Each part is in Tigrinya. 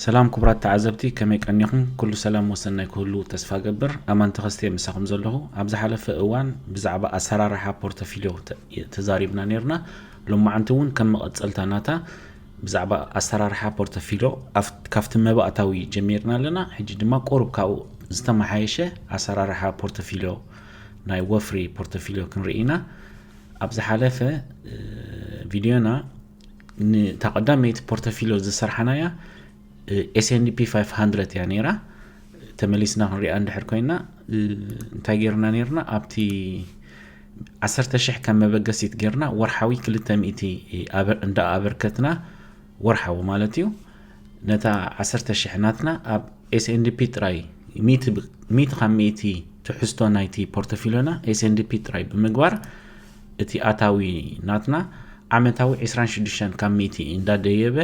ሰላም ኩቡራት ተዓዘብቲ ከመይ ቀኒኹም ኩሉ ሰላም ወሰናይ ክህሉ ተስፋ እገብር ኣማን ተኸስተ እየ ምሳኹም ዘለኹ ኣብ ዝሓለፈ እዋን ብዛዕባ ኣሰራርሓ ፖርተፊልዮ ተዛሪብና ነርና ሎማዓንቲ እውን ከም መቐፀልታ ናታ ብዛዕባ ኣሰራርሓ ፖርተፊልዮ ካብቲ መባእታዊ ጀሚርና ኣለና ሕጂ ድማ ቁሩብ ካብኡ ዝተመሓየሸ ኣሰራርሓ ፖርተፊልዮ ናይ ወፍሪ ፖርተፊልዮ ክንርኢ ኢና ኣብ ዝሓለፈ ቪድዮና ንታ ቀዳመይቲ ፖርተፊሎ ዝሰርሓናያ ኤስኤንፒ 500 እያ ነይራ ተመሊስና ክንሪኣ እንድሕር ኮይና እንታይ ጌርና ነርና ኣብቲ 1,000 ከም መበገሲት ጌርና ወርሓዊ 200 እንዳ ኣበርከትና ወርሓዊ ማለት እዩ ነታ 1,000 ናትና ኣብ ኤስኤንፒ ጥራይ ሚእቲ ካብ ሚእቲ ትሕዝቶ ናይቲ ፖርቶፊሎና ኤስኤንዲፒ ጥራይ ብምግባር እቲ ኣታዊ ናትና ዓመታዊ ዕስራን ሽዱሽተን ካብ ሚእቲ እንዳደየበ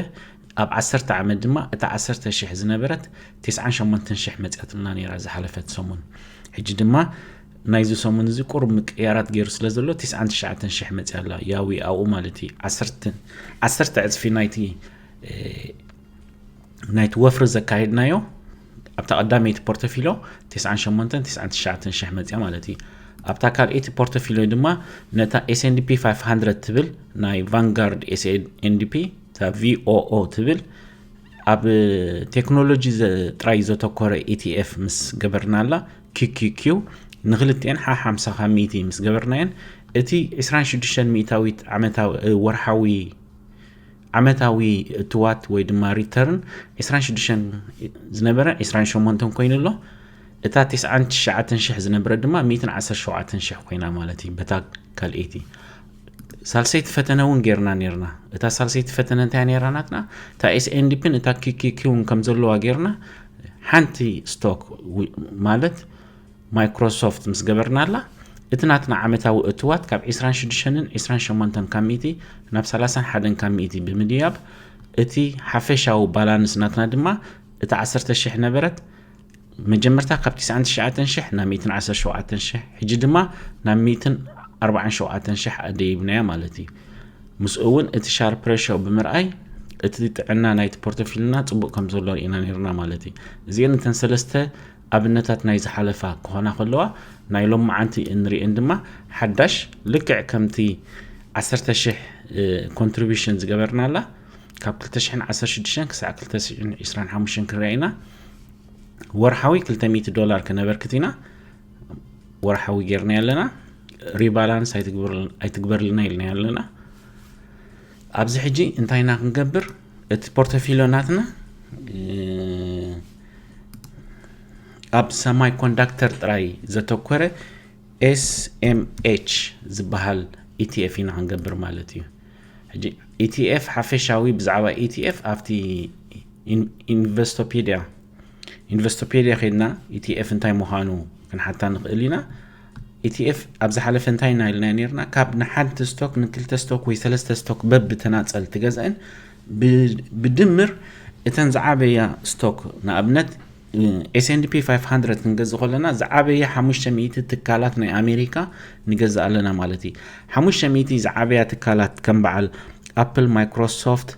ኣብ ዓሰርተ ዓመት ድማ እታ ዓሰርተ ሽሕ ዝነበረት ቴስዓን ሸሞንተን ሽሕ መፅያትልና ነይራ ዝሓለፈት ሰሙን ሕጂ ድማ ናይዚ ሰሙን እዚ ቁሩብ ምቅያራት ገይሩ ስለ ዘሎ ቴስዓን ትሽዓተን ሽሕ መፅያ ኣላ ያዊ ኣብኡ ማለት እዩ ዓሰርተ ዕፅፊ ናይቲ ናይቲ ወፍሪ ዘካየድናዮ ኣብታ ቀዳመይቲ ፖርተፊሎ 98 99 ሽሕ መፅያ ማለት እዩ ኣብታ ካልኤቲ ፖርተፊሎ ድማ ነታ ኤስንዲፒ 500 ትብል ናይ ቫንጋርድ ኤስንዲፒ እታ ቪኦኦ ትብል ኣብ ቴክኖሎጂ ጥራይ ዘተኮረ ኢቲኤፍ ምስ ገበርናላ ኪኪኪ ንክልቲኤን ሓ 50 ካብ ሚእቲ ምስ ገበርናየን እቲ 26 ሚእታዊት ዓመታዊ ወርሓዊ ዓመታዊ እትዋት ወይ ድማ ሪተርን ዕስራን ሽዱሽተን ዝነበረ ዕስራን ሸሞንተን ኮይኑ ኣሎ እታ ቴስዓን ትሽዓተን ሽሕ ዝነበረ ድማ ሚእትን ዓሰርተ ሸውዓተን ሽሕ ኮይና ማለት እዩ በታ ካልኤቲ ሳልሰይቲ ፈተነ እውን ጌርና ነርና እታ ሳልሰይቲ ፈተነ እንታይ ነራ ናትና እታ ኤስኤንዲፒን እታ ኪኪኪውን ከም ዘለዋ ጌርና ሓንቲ ስቶክ ማለት ማይክሮሶፍት ምስ ገበርናላ እቲ ናትና ዓመታዊ እትዋት ካብ 26ን 28 ካብ ሚእቲ ናብ 31 ካብ ሚእቲ ብምድያብ እቲ ሓፈሻዊ ባላንስ ናትና ድማ እቲ 10,000 ነበረት መጀመርታ ካብ 99,000 ናብ 117,000 ሕጂ ድማ ናብ 147,000 ኣደይብናያ ማለት እዩ ምስኡ እውን እቲ ሻር ፕሬሾ ብምርኣይ እቲ ጥዕና ናይቲ ፖርቶፊልና ፅቡቅ ከም ዘሎ ኢና ነርና ማለት እዩ እዚአን እተን ሰለስተ ኣብነታት ናይ ዝሓለፋ ክኾና ከለዋ ናይ ሎምዓንቲ እንሪኤን ድማ ሓዳሽ ልክዕ ከምቲ ዓሰርተ ሽሕ ኮንትሪቢሽን ዝገበርናላ ካብ ክልተ ሽሕን ዓሰርተ ሽዱሽተን ክሳዕ ክልተ ሽሕን ዕስራን ሓሙሽተን ክንሪኣ ኢና ወርሓዊ ክልተ ሚእቲ ዶላር ከነበርክት ኢና ወርሓዊ ጌርና ኣለና ሪባላንስ ኣይትግበርልና ኢልና ኣለና ኣብዚ ሕጂ እንታይ ኢና ክንገብር እቲ ፖርተፊሎ ናትና ኣብ ሰማይ ኮንዳክተር ጥራይ ዘተኮረ ኤስኤምኤች ዝበሃል ኢቲኤፍ ኢና ክንገብር ማለት እዩ ሕጂ ኢቲኤፍ ሓፈሻዊ ብዛዕባ ኢቲኤፍ ኣብቲ ኢንቨስቶፔድያ ኢንቨስቶፔድያ ከድና ኢቲኤፍ እንታይ ምዃኑ ክንሓታ ንኽእል ኢና ኢቲኤፍ ኣብ ዝሓለፈ እንታይ ኢና ኢልና ነርና ካብ ንሓንቲ ስቶክ ንክልተ ስቶክ ወይ ሰለስተ ስቶክ በብ ተናፀል ትገዝአን ብድምር እተን ዝዓበያ ስቶክ ንኣብነት ኤስንፒ 500 ክንገዝ ከለና ዝዓበየ 500 ትካላት ናይ ኣሜሪካ ንገዝእ ኣለና ማለት እዩ 500 ዝዓበያ ትካላት ከም በዓል ኣፕል ማይክሮሶፍት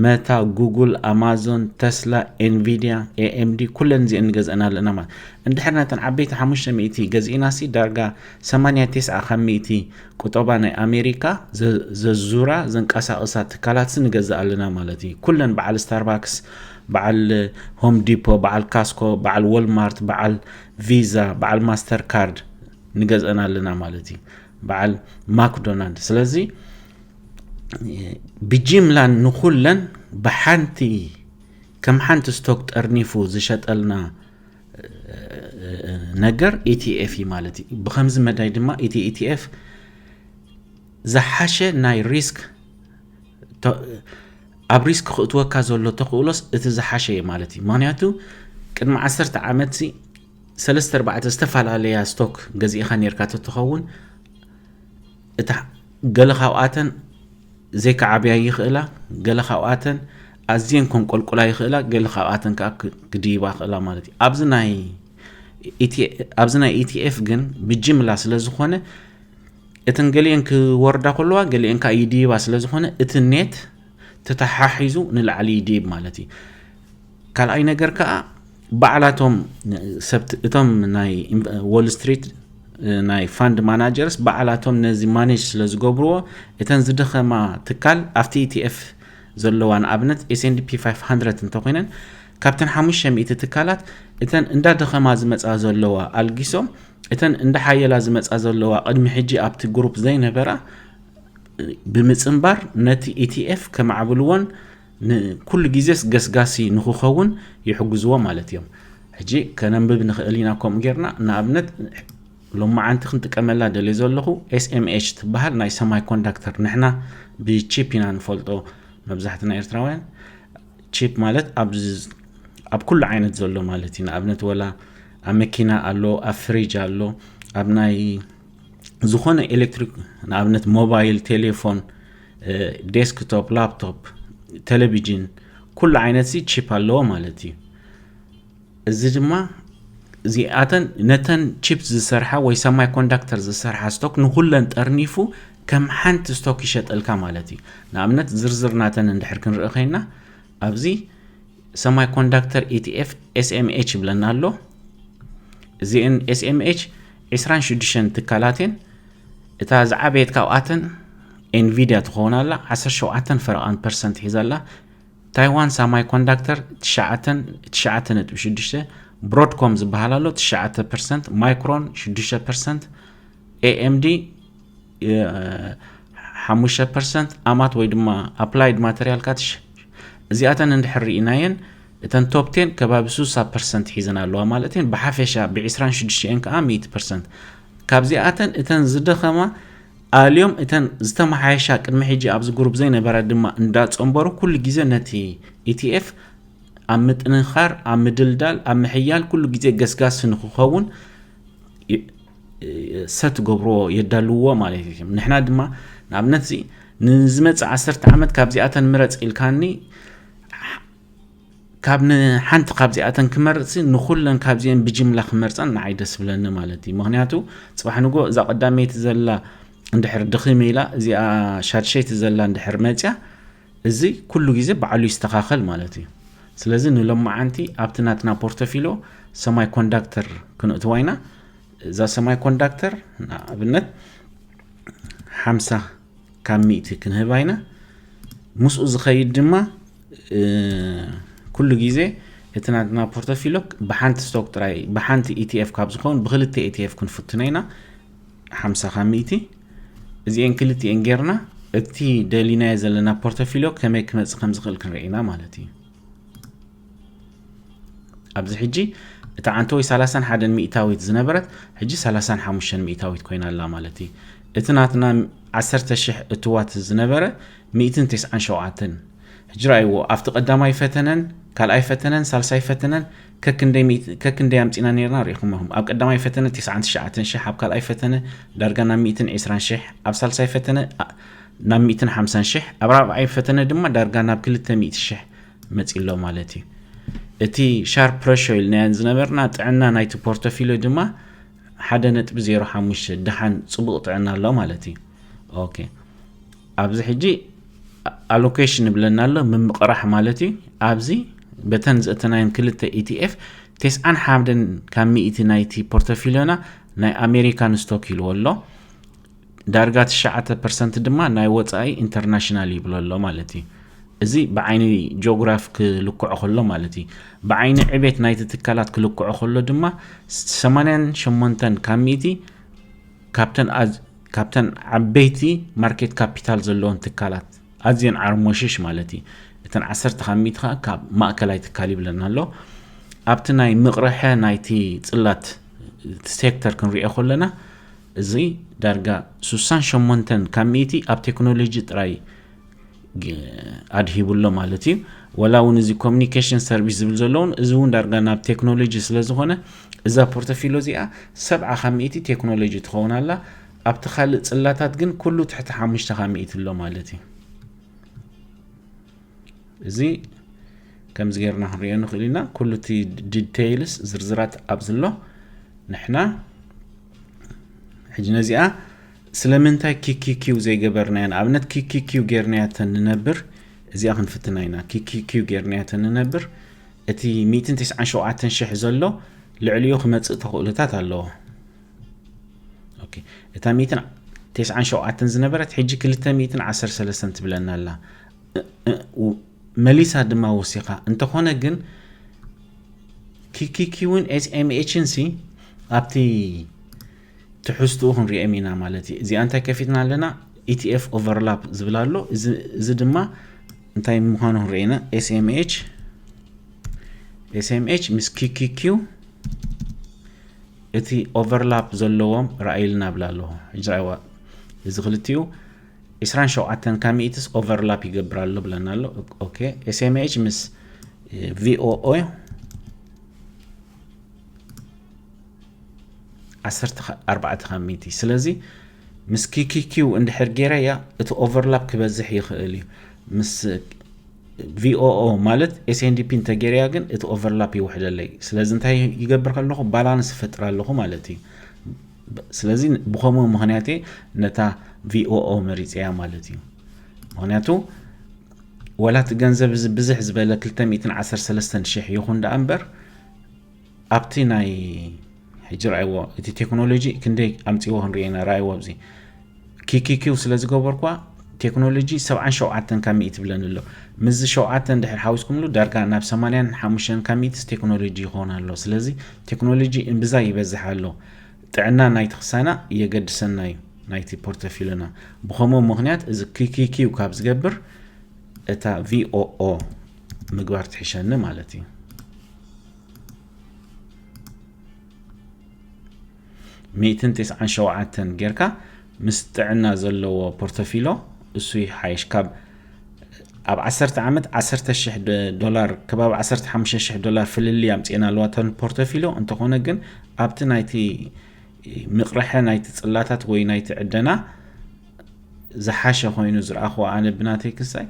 መታ ጉጉል ኣማዞን ተስላ ኤንቪድያ ኤኤምዲ ኩለን እዚኤን ንገዝአን ኣለና ማለት እንድሕር ነተን ዓበይቲ ሓሙሽተ ሚእቲ ገዚእናሲ ዳርጋ ሰማንያ ቴስዓ ካብ ሚእቲ ቁጠባ ናይ ኣሜሪካ ዘዙራ ዘንቀሳቕሳ ትካላትሲ ንገዝእ ኣለና ማለት እዩ ኩለን በዓል ስታርባክስ በዓል ሆም ዲፖ በዓል ካስኮ በዓል ወልማርት በዓል ቪዛ በዓል ማስተር ካርድ ንገዝአን ኣለና ማለት እዩ በዓል ማክዶናልድ ስለዚ ብጂምላን ንኹለን ብሓንቲ ከም ሓንቲ ስቶክ ጠርኒፉ ዝሸጠልና ነገር ኢቲኤፍ እዩ ማለት እዩ ብከምዚ መዳይ ድማ እቲ ኢቲኤፍ ዝሓሸ ናይ ሪስክ ኣብ ሪስክ ክእትወካ ዘሎ ተኽእሎስ እቲ ዝሓሸ እዩ ማለት እዩ ምክንያቱ ቅድሚ ዓሰርተ ዓመት ሰለስተ ኣርባዕተ ዝተፈላለያ ስቶክ ገዚእኻ ነርካ ተትኸውን እታ ገለ ካብኣተን ዘይክዓብያ ይኽእላ፣ ገለ ካብኣተን ኣዝየን ከንቆልቁላ ይኽእላ፣ ገለ ካብኣተን ከዓ ክድይባ ይኽእላ ማለት እዩ። ኣብዚ ናይ ኣብዚ ናይ ኢቲኤፍ ግን ብጅምላ ስለ ዝኾነ እተን ገሊአን ክወርዳ ከለዋ ገሊአን ከዓ ይድይባ ስለ ዝኾነ እቲ ኔት ተተሓሒዙ ንላዕሊ ይድይብ ማለት እዩ። ካልኣይ ነገር ከኣ ባዕላቶም ሰብት እቶም ናይ ዎል ስትሪት ናይ ፋንድ ማናጀርስ ባዕላቶም ነዚ ማኔጅ ስለ ዝገብርዎ እተን ዝደኸማ ትካል ኣብቲ ኢቲኤፍ ዘለዋ ንኣብነት ኤስንድፒ 500 እንተኮይነን ካብተን 500 ትካላት እተን እንዳደኸማ ዝመፃ ዘለዋ ኣልጊሶም እተን እንዳሓየላ ዝመፃ ዘለዋ ቅድሚ ሕጂ ኣብቲ ግሩፕ ዘይነበራ ብምፅምባር ነቲ ኢቲኤፍ ከማዕብልዎን ንኩሉ ግዜስ ገስጋሲ ንኽኸውን ይሕግዝዎ ማለት እዮም። ሕጂ ከነንብብ ንኽእል ኢና ከምኡ ጌርና ንኣብነት ሎማዓንቲ ክንጥቀመላ ደልየ ዘለኹ ኤስኤምኤች ትበሃል ናይ ሰማይ ኮንዳክተር ንሕና ብቺፕ ኢና ንፈልጦ መብዛሕትና ኤርትራውያን ቺፕ ማለት ኣብ ኩሉ ዓይነት ዘሎ ማለት እዩ ንኣብነት ወላ ኣብ መኪና ኣሎ ኣብ ፍሪጅ ኣሎ ኣብ ናይ ዝኾነ ኤሌክትሪክ ንኣብነት ሞባይል ቴሌፎን ዴስክቶፕ ላፕቶፕ ቴሌቪዥን ኩሉ ዓይነት ሲ ቺፕ ኣለዎ ማለት እዩ እዚ ድማ እዚኣተን ነተን ቺፕ ዝሰርሓ ወይ ሰማይ ኮንዳክተር ዝሰርሓ ስቶክ ንኩለን ጠርኒፉ ከም ሓንቲ ስቶክ ይሸጠልካ ማለት እዩ ንኣብነት ዝርዝር ናተን እንድሕር ክንርኢ ኮይና ኣብዚ ሰማይ ኮንዳክተር ኢቲኤፍ ኤስኤምኤች ይብለና ኣሎ እዚአን ኤስኤምኤች 26 ትካላት እየን እታ ዝዓበየት ካብኣተን ኤንቪድያ ትኸውን ኣላ ዓሰርተ ሸውዓተን ፈረቓን ፐርሰንት ሒዛ ኣላ። ታይዋን ሳማይ ኮንዳክተር ትሽዓተን ትሽዓተ ነጥቢ ሽዱሽተ ብሮድኮም ዝበሃል ኣሎ ትሽዓተ ፐርሰንት ማይክሮን ሽዱሽተ ፐርሰንት ኤኤምዲ ሓሙሽተ ፐርሰንት ኣማት ወይ ድማ ኣፕላይድ ማተርያል ካትሽ እዚኣተን እንድሕር ርኢናየን እተን ቶፕ ቴን ከባቢ ሱሳ ፐርሰንት ሒዘን ኣለዋ ማለት እየን ብሓፈሻ ብ26 እየን ከዓ ሚእቲ ፐርሰንት ካብዚኣተን እተን ዝደኸማ ኣልዮም እተን ዝተመሓየሻ ቅድሚ ሕጂ ኣብዚ ጉሩፕ ዘይነበራ ድማ እንዳጸንበሩ ኩሉ ግዜ ነቲ ETF ኣብ ምጥንኻር ኣብ ምድልዳል ኣብ ምሕያል ኩሉ ግዜ ገስጋሲ ንክኸውን ሰት ገብርዎ የዳልውዎ ማለት እዩ ንሕና ድማ ንኣብነት እዚ ንዝመፅእ ዓሰርተ ዓመት ካብዚኣተን ምረፅ ኢልካኒ ካብ ንሓንቲ ካብዚኣተን ክመርጽ ንኩለን ካብዚኤን ብጅምላ ክመርጸን ንዓይ ደስ ብለኒ ማለት እዩ ምክንያቱ ጽባሕ ንጎ እዛ ቀዳመይቲ ዘላ እንድሕር ድኺም ኢላ እዚኣ ሻድሸይቲ ዘላ እንድሕር መጽያ እዚ ኩሉ ግዜ ባዕሉ ይስተኻኸል ማለት እዩ ስለዚ ንሎማዓንቲ ኣብቲ ናትና ፖርቶፊሎ ሰማይ ኮንዳክተር ክንእትዋ ኢና እዛ ሰማይ ኮንዳክተር ንኣብነት ሓምሳ ካብ ሚእቲ ክንህባ ኢና ምስኡ ዝኸይድ ድማ ኩሉ ግዜ እቲ ናትና ፖርቶፊሎ ብሓንቲ ስቶክ ጥራይ ብሓንቲ ኢቲኤፍ ካብ ዝኸውን ብክልተ ኢቲኤፍ ክንፍትኖ ኢና ሓምሳ ካብ ሚእቲ እዚኤን ክልቲኤን ጌርና እቲ ደሊናዮ ዘለና ፖርቶፊሎ ከመይ ክመፅእ ከም ዝኽእል ክንርኢ ኢና ማለት እዩ ኣብዚ ሕጂ እታ ዓንተወይ 31 ሚእታዊት ዝነበረት ሕጂ 35 ሚእታዊት ኮይና ኣላ ማለት እዩ እቲ ናትና 10 ሽሕ እትዋት ዝነበረ 197 ሕጂ ረኣይዎ ኣብቲ ቀዳማይ ፈተነን ካልኣይ ፈተነን ሳልሳይ ፈተነን ከክንደይ ኣምፂና ነርና ርኢኹምኹም ኣብ ቀዳማይ ፈተነ 99 ሽሕ ኣብ ካልኣይ ፈተነ ዳርጋ ናብ 120 ሽሕ ኣብ ሳልሳይ ፈተነ ናብ 150 ሽሕ ኣብ ራብዓይ ፈተነ ድማ ዳርጋ ናብ 200 ሽሕ መጺሎ ማለት እዩ። እቲ ሻርፕ ፕረሾ ኢልናየን ዝነበርና ጥዕና ናይቲ ፖርቶፊልዮ ድማ ሓደ ነጥቢ ዜሮ ሓሙሽተ ደሓን ጽቡቕ ጥዕና ኣሎ ማለት እዩ። ኦኬ ኣብዚ ሕጂ ኣሎኬሽን ይብለና ኣሎ ምምቕራሕ ማለት እዩ። ኣብዚ በተን ዘእተናየን ክልተ ኢቲኤፍ ቴስዓን ሓምደን ካብ ሚእቲ ናይቲ ፖርቶፊልዮና ናይ ኣሜሪካን ስቶክ ኢልዎ ኣሎ። ዳርጋ ትሽዓተ ፐርሰንት ድማ ናይ ወፃኢ ኢንተርናሽናል ይብሎ ኣሎ ማለት እዩ እዚ ብዓይኒ ጂኦግራፍ ክልክዖ ከሎ ማለት እዩ ብዓይኒ ዕቤት ናይቲ ትካላት ክልክዖ ከሎ ድማ 88 ካብ ሚእቲ ካብተን ዓበይቲ ማርኬት ካፒታል ዘለዎን ትካላት ኣዝየን ዓርሞሽሽ ማለት እዩ እተን ዓሰርተ ካብ ሚእቲ ከዓ ካብ ማእከላይ ትካል ይብለና ኣሎ ኣብቲ ናይ ምቕርሐ ናይቲ ፅላት ሴክተር ክንሪኦ ከለና እዚ ዳርጋ ስሳን ሸሞንተን ካብ ሚእቲ ኣብ ቴክኖሎጂ ጥራይ ኣድሂቡ ኣሎ ማለት እዩ። ወላ እውን እዚ ኮሚኒኬሽን ሰርቪስ ዝብል ዘሎ እውን እዚ እውን ዳርጋ ናብ ቴክኖሎጂ ስለ ዝኾነ እዛ ፖርቶፊሎ እዚኣ ሰብዓ ካብ ሚእቲ ቴክኖሎጂ ትኸውን ኣላ። ኣብቲ ካልእ ጽላታት ግን ኩሉ ትሕቲ ሓሙሽተ ካብ ሚእቲ ኣሎ ማለት እዩ። እዚ ከምዚ ጌርና ክንሪኦ ንኽእል ኢና ኩሉ እቲ ዲቴይልስ ዝርዝራት ኣብዚ ኣሎ ንሕና ሕጂ ነዚኣ ስለምንታይ ኪኪኪው ዘይገበርናያ ንኣብነት ኪኪኪው ጌርናያ ተንነብር እዚኣ ክንፍትና ኢና ኪኪኪው ጌርናያ ተንነብር እቲ 197000 ዘሎ ልዕሊኡ ክመፅእ ተኽእሎታት ኣለዎ ኦኬ እታ ሚእትን ቴስዓን ሸውዓተን ዝነበረት ሕጂ ክልተ ሚእትን ዓሰርተ ሰለስተን ትብለና ኣላ መሊሳ ድማ ወሲኻ እንተኾነ ግን ኪኪኪውን ኤስኤምኤችን ሲ ኣብቲ ትሕዝትኡ ክንሪኦም ኢና ማለት እዩ እዚኣ እንታይ ከፊትና ኣለና ኢቲኤፍ ኦቨርላፕ ዝብል ኣሎ እዚ ድማ እንታይ ምዃኑ ክንርኢ ኢና ኤስኤምኤች ኤስኤምኤች ምስ ኪኪኪው እቲ ኦቨርላፕ ዘለዎም ርኣይልና እብል ኣለኹ። ሕጂ ርኣይዋ እዚ ክልቲኡ ዕስራን ሸውዓተን ካብ ሚእትስ ኦቨርላፕ ይገብር ኣሎ ብለና ኣሎ። ኦኬ ኤስኤምኤች ምስ ቪኦኦ ዓሰርተ ኣርባዕተ ካብ ሚእቲ ስለዚ ምስ ኪኪኪው እንድሕር ገይረያ እቲ ኦቨርላፕ ክበዝሕ ይኽእል እዩ ምስ VOO ማለት SNDP እንተጌርያ ግን እቲ ኦቨርላፕ ይውሕደለይ ስለዚ እንታይ ይገብር ከለኹ ባላንስ ይፈጥር ኣለኹ ማለት እዩ ስለዚ ብከምኡ ምክንያት እየ ነታ VOO መሪፀያ ማለት እዩ ምክንያቱ ወላ እቲ ገንዘብ እዚ ብዝሕ ዝበለ 213 ሽሕ ይኹን ደኣ እምበር ኣብቲ ናይ ሕጂ ርኣይዎ እቲ ቴክኖሎጂ ክንደይ ኣምፅዎ ክንሪኦ ኢና ርኣይዎ ኣብዚ ኪኪኪው ስለ ዝገበርኳ ቴክኖሎጂ ሰብዓን ሸውዓተን ካብ ሚእቲ ብለን ኣሎ ምስዚ ሸውዓተን ድሕር ሓዊስኩምሉ ዳርጋ ናብ ሰማንያን ሓሙሽተን ካብ ሚእቲስ ቴክኖሎጂ ይኸውን ኣሎ ስለዚ ቴክኖሎጂ እምብዛ ይበዝሕ ኣሎ ጥዕና ናይቲ ክሳና የገድሰና እዩ ናይቲ ፖርተፊልና ብከምኡ ምክንያት እዚ ኪኪኪው ካብ ዝገብር እታ ቪኦኦ ምግባር ትሕሸኒ ማለት እዩ ሚእትን ቴስዓን ሸውዓተን ጌርካ ምስ ጥዕና ዘለዎ ፖርቶፊሎ እሱ ይሓይሽ ካብ ኣብ 1 ዓመት 1ሸ ዶላር ከባቢ 15 ዶላር ፍልል ኣምፅና ኣለዋ ተ ፖርቶፊሎ እንተኾነ ግን ኣብቲ ናይቲ ምቕርሐ ናይቲ ፅላታት ወይ ናይቲ ዕደና ዝሓሸ ኮይኑ ዝረኣኹ ኣነ ብናተይ ክሳይ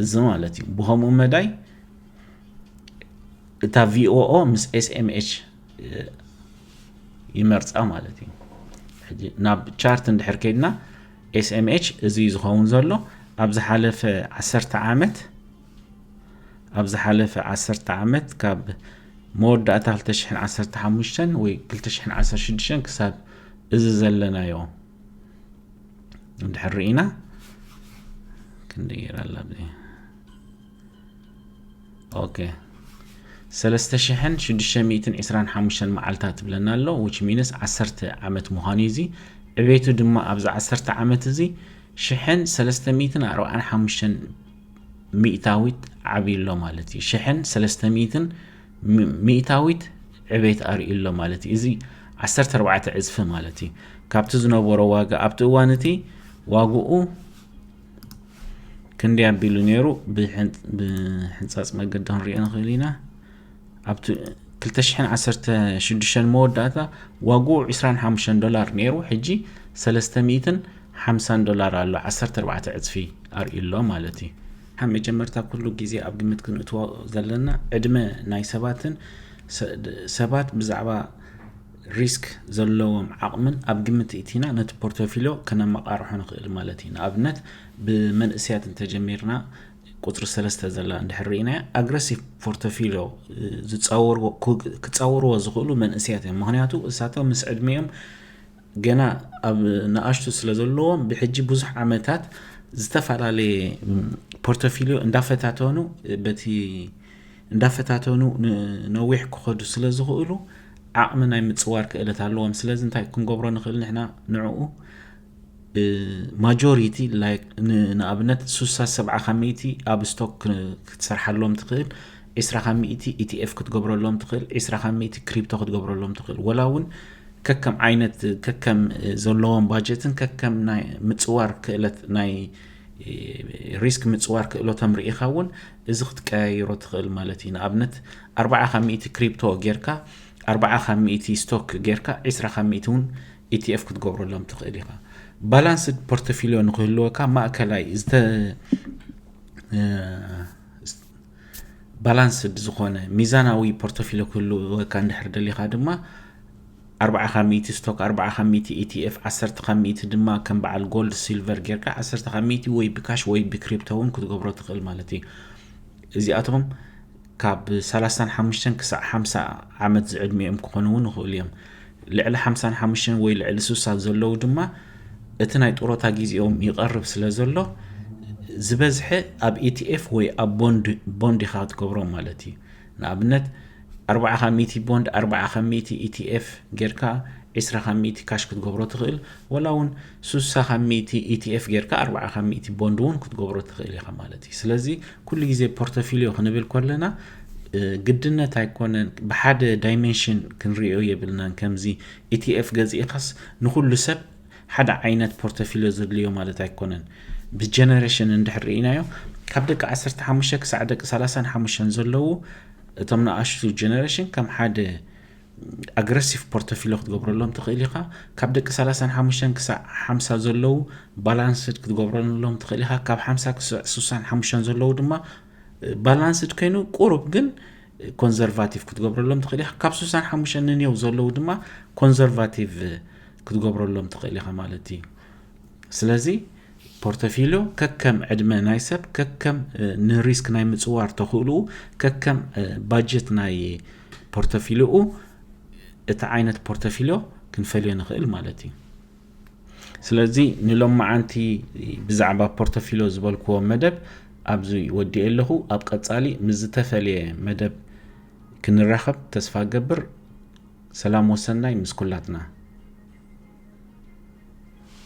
እዚ ማለት እዩ ብከምኡ መዳይ እታ ቪኦኦ ምስ ኤስኤምኤች ይመርፃ ማለት እዩ ሕጂ ናብ ቻርት እንድሕር ከይድና ኤስኤምኤች እዚ ዝኸውን ዘሎ ኣብ ዝሓለፈ ዓሰርተ ዓመት ኣብ ዝሓለፈ ዓሰርተ ዓመት ካብ መወዳእታ 215 ወይ 216 ክሳብ እዚ ዘለናዮ እንድሕር ርኢና ክንደይ ጌራ ኣላ ኦኬ ሰለስተ ሽሕን ሽዱሽተ ሚእትን ዕስራን ሓሙሽተን መዓልታት ትብለና ኣሎ ዊች ሚንስ ዓሰርተ ዓመት ምዃኑ እዩ እዚ ዕቤቱ ድማ ኣብዚ ዓሰርተ ዓመት እዚ ሽሕን ሰለስተ ሚእትን ኣርባዓን ሓሙሽተን ሚእታዊት ዓብዩ ኣሎ ማለት እዩ ሽሕን ሰለስተ ሚእትን ሚእታዊት ዕቤት ኣርእዩ ኣሎ ማለት እዩ እዚ ዓሰርተ ኣርባዕተ ዕፅፊ ማለት እዩ ካብቲ ዝነበሮ ዋጋ ኣብቲ እዋን እቲ ዋግኡ ክንደይ ኣቢሉ ነይሩ ብሕንፃፅ መገዲ ክንሪኦ ንኽእል ኢና ኣብቲ 216 መወዳእታ ዋግኡ 25 ዶላር ነይሩ ሕጂ 350 ዶላር ኣሎ 14 ዕፅፊ ኣርእዩ ኣሎ ማለት እዩ ካብ መጀመርታ ኩሉ ግዜ ኣብ ግምት ክንእትዎ ዘለና ዕድመ ናይ ሰባትን ሰባት ብዛዕባ ሪስክ ዘለዎም ዓቕምን ኣብ ግምት እእቲና ነቲ ፖርቶፊልዮ ከነመቓርሖ ንኽእል ማለት እዩ። ንኣብነት ብመንእሰያት እንተጀሚርና ቁጽሪ ሰለስተ ዘላ እንድሕር ርኢናያ ኣግረሲቭ ፖርቶፊልዮ ዝጻወርዎ ክጻወርዎ ዝኽእሉ መንእሰያት እዮም። ምክንያቱ እሳቶም ምስ ዕድሜኦም ገና ኣብ ንኣሽቱ ስለ ዘለዎም ብሕጂ ብዙሕ ዓመታት ዝተፈላለየ ፖርቶፊልዮ እንዳፈታተኑ በቲ እንዳፈታተኑ ንነዊሕ ክኸዱ ስለ ዝኽእሉ ዓቕሚ ናይ ምፅዋር ክእለት ኣለዎም ስለዚ እንታይ ክንገብሮ ንኽእል ንሕና ንዕኡ ማጆሪቲ ንኣብነት ሱሳ ሰብዓ ካብ ሚእቲ ኣብ ስቶክ ክትሰርሓሎም ትኽእል ዒስራ ካብ ሚእቲ ኢቲኤፍ ክትገብረሎም ትኽእል ዒስራ ካብ ሚእቲ ክሪፕቶ ክትገብረሎም ትኽእል ወላ እውን ከከም ዓይነት ከከም ዘለዎም ባጀትን ከከም ናይ ምፅዋር ክእለት ናይ ሪስክ ምጽዋር ክእሎቶም ርኢኻ እውን እዚ ክትቀያይሮ ትኽእል ማለት እዩ ንኣብነት ኣርባዓ ካብ ሚእቲ ክሪፕቶ ጌርካ ኣርባዓ ካብ ሚእቲ ስቶክ ጌርካ ዒስራ ካብ ሚእቲ እውን ኢቲኤፍ ክትገብረሎም ትኽእል ኢኻ ባላንስድ ፖርቶፊልዮ ንክህልወካ ማእከላይ ባላንስድ ዝኾነ ሚዛናዊ ፖርቶፊልዮ ክህልወካ እንድሕር ደሊኻ ድማ ኣርብዓ ካብ ሚእቲ ስቶክ ኣርብዓ ካብ ሚእቲ ETF ዓሰርተ ካብ ሚእቲ ድማ ከም በዓል ጎልድ ሲልቨር ጌርካ ዓሰርተ ካብ ሚእቲ ወይ ብካሽ ወይ ብክሪፕቶ እውን ክትገብሮ ትኽእል ማለት እዩ እዚኣቶም ካብ ሰላሳን ሓሙሽተን ክሳዕ ሓምሳ ዓመት ዝዕድሚኦም ክኾኑ እውን ይኽእሉ እዮም ልዕሊ ሓምሳን ሓሙሽተን ወይ ልዕሊ ስሳ ዘለዉ ድማ እቲ ናይ ጡረታ ግዜኦም ይቐርብ ስለ ዘሎ ዝበዝሐ ኣብ ኢቲኤፍ ወይ ኣብ ቦንድ ኢኻ ክትገብሮም ማለት እዩ ንኣብነት ኣርብዓ ካብ ሚእቲ ቦንድ ኣርብዓ ካብ ሚእቲ ETF ጌርካ ዒስራ ካብ ሚእቲ ካሽ ክትገብሮ ትኽእል ወላ እውን ሱሳ ካብ ሚእቲ ETF ጌርካ ኣርብዓ ካብ ሚእቲ ቦንድ እውን ክትገብሮ ትኽእል ኢኻ ማለት እዩ ስለዚ ኩሉ ግዜ ፖርቶፊልዮ ክንብል ከለና ግድነት ኣይኮነን ብሓደ ዳይሜንሽን ክንሪኦ የብልናን ከምዚ ኢቲኤፍ ገዚእኻስ ንኩሉ ሰብ ሓደ ዓይነት ፖርተፊልዮ ዘድልዮ ማለት ኣይኮነን። ብጀነሬሽን እንድሕር ርኢናዮ ካብ ደቂ ዓሰርተ ሓሙሽተ ክሳዕ ደቂ ሰላሳን ሓሙሽተን ዘለዉ እቶም ንኣሽቱ ጀነሬሽን ከም ሓደ ኣግረሲቭ ፖርተፊልዮ ክትገብረሎም ትኽእል ኢኻ። ካብ ደቂ ሰላሳን ሓሙሽተን ክሳዕ ሓምሳ ዘለዉ ባላንስድ ክትገብረሎም ትኽእል ኢኻ። ካብ ሓምሳ ክሳዕ ስሳን ሓሙሽተን ዘለዉ ድማ ባላንስድ ኮይኑ ቁሩብ ግን ኮንዘርቫቲቭ ክትገብረሎም ትኽእል ኢኻ። ካብ ስሳን ሓሙሽተን ንኔው ዘለዉ ድማ ኮንዘርቫቲቭ ክትገብረሎም ትኽእል ኢኻ ማለት እዩ ስለዚ ፖርተፊልዮ ከከም ዕድመ ናይ ሰብ ከከም ንሪስክ ናይ ምፅዋር ተኽእልኡ ከከም ባጀት ናይ ፖርተፊልኡ እቲ ዓይነት ፖርተፊልዮ ክንፈልዮ ንኽእል ማለት እዩ ስለዚ ንሎማዓንቲ ብዛዕባ ፖርተፊልዮ ዝበልክዎ መደብ ኣብዚ ወዲኤ ኣለኹ ኣብ ቀፃሊ ምስ ዝተፈለየ መደብ ክንራኸብ ተስፋ ገብር ሰላም ወሰናይ ምስ ኩላትና።